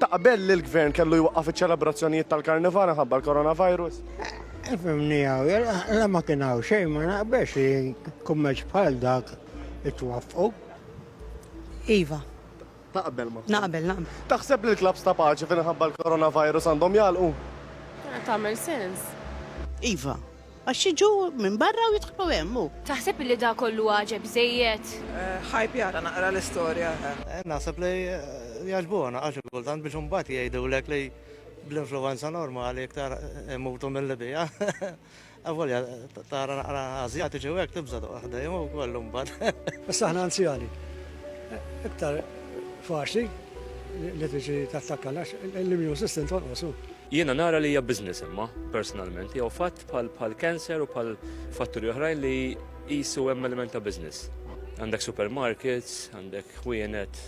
Ta' qabel li l-gvern kellu jwaqqaf iċ-ċelebrazzjonijiet tal-karnival minħabba l-coronavirus? Fimni għaw, la ma kien għaw xejn ma naqbex li kummerċ bħal dak it-twaffqu. Iva. Ta' qabel ma. Naqbel, naqbel. Taħseb li l-klabs ta' paċi finħabba l-coronavirus għandhom jalqu? Tagħmel sens. Iva, Għax jiġu minn barra u jidħlu hemm, hu. Taħseb li dak kollu għaġeb biżżejjed? Hype jara naqra l-istorja, eħe. Naħseb li jgħaġbuha naqra xi kultant biex imbagħad jgħidulek li bl-influwenza normali iktar imutu milli biha. Avolja tara naqra Ażjatiċi u hekk tibża' toqgħod ħdejhom u kollu mbagħad. Issa aħna anzjani iktar faċli li tiġi tattakkana għax l-immune system tonqos, hu. Jiena nara li hija business imma, personalment, jew fatt bħal bħal cancer u bħal fatturi oħrajn li qisu hemm element ta' business. Għandek supermarkets, għandek ħwienet,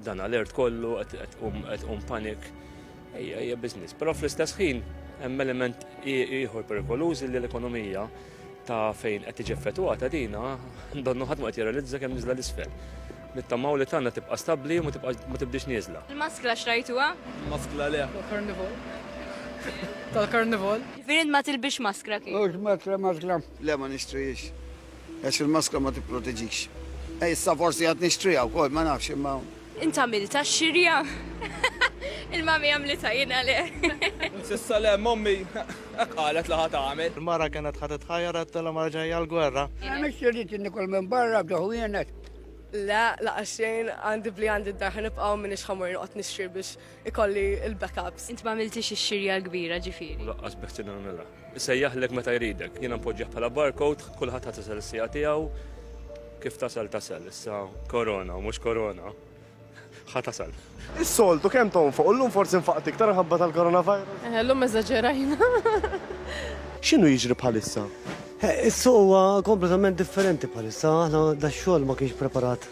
dan alert kollu, qed qum panik. Ejja, hija business. Però fl-istess ħin hemm element ieħor perikoluż li l-ekonomija ta' fejn qed tiġi effettwata dina, donnu ħadd ma qed jirrealizza kemm niżla l-isfel. Nittamaw li tanna tibqa' stabbli u ma tibdix nieżla. Il-maskla xtrajtuha? Il-maskla le. Tal-karnival. Tal-karnival. Ġifieri int ma tilbisx maskra kif? Mhux maskra maskra. Le ma nixtrihiex. Għax il-maskra ma tipproteġix. Issa forsi għad nixtriha wkoll, ma nafx imma Int għamilt għax-xirja? Il-mommy għamlitha, jiena le. S'issa le, mommy hekk qalet li ħa tagħmel. Il-mara kienet ħa titħajjar għedtilha mara ġejja l-gwerra. Jiena m'ittx irrid li nikol minn barra f'da ħwienet. Le, lanqas xejn, għandi bli għandi d-dar ħa nibqgħu u m'iniex ħa mmur noqgħod nixtri biex ikolli il-backups. Int ma għamiltix ix-xirja l-kbira ġifieri. U laqqas beħti nagħmilha. Isejjaħlek meta jridek. Jiena npoġġih bħala barcode, kulħadd ħadd isel is-siegħa tiegħu. Kif tasal tasal, issa korona u mhux korona. Ħa tasal. Is-soltu kemm tonfoq u llum forsi nfaqt iktar minħabba tal-coronavirus? Eh, llum eżaġerajna. X'inhu jiġri bħalissa? Eh, is-suq huwa kompletament differenti bħalissa, aħna dax-xogħol ma kienx preparat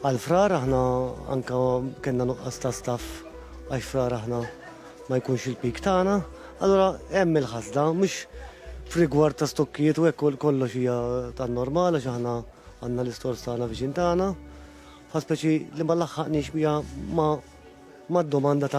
Għal Frar aħna anke kellna nuqqas ta' staff għax Frar aħna ma jkunx il-peak tagħna, allura hemm il-ħasda mhux f'rigward ta' stokkijiet u hekk kollox hija tan-normal għax aħna għandna l-istores tagħna viċin tagħna, ħaspeċi li ma laħħaqniex biha mad-domanda ta'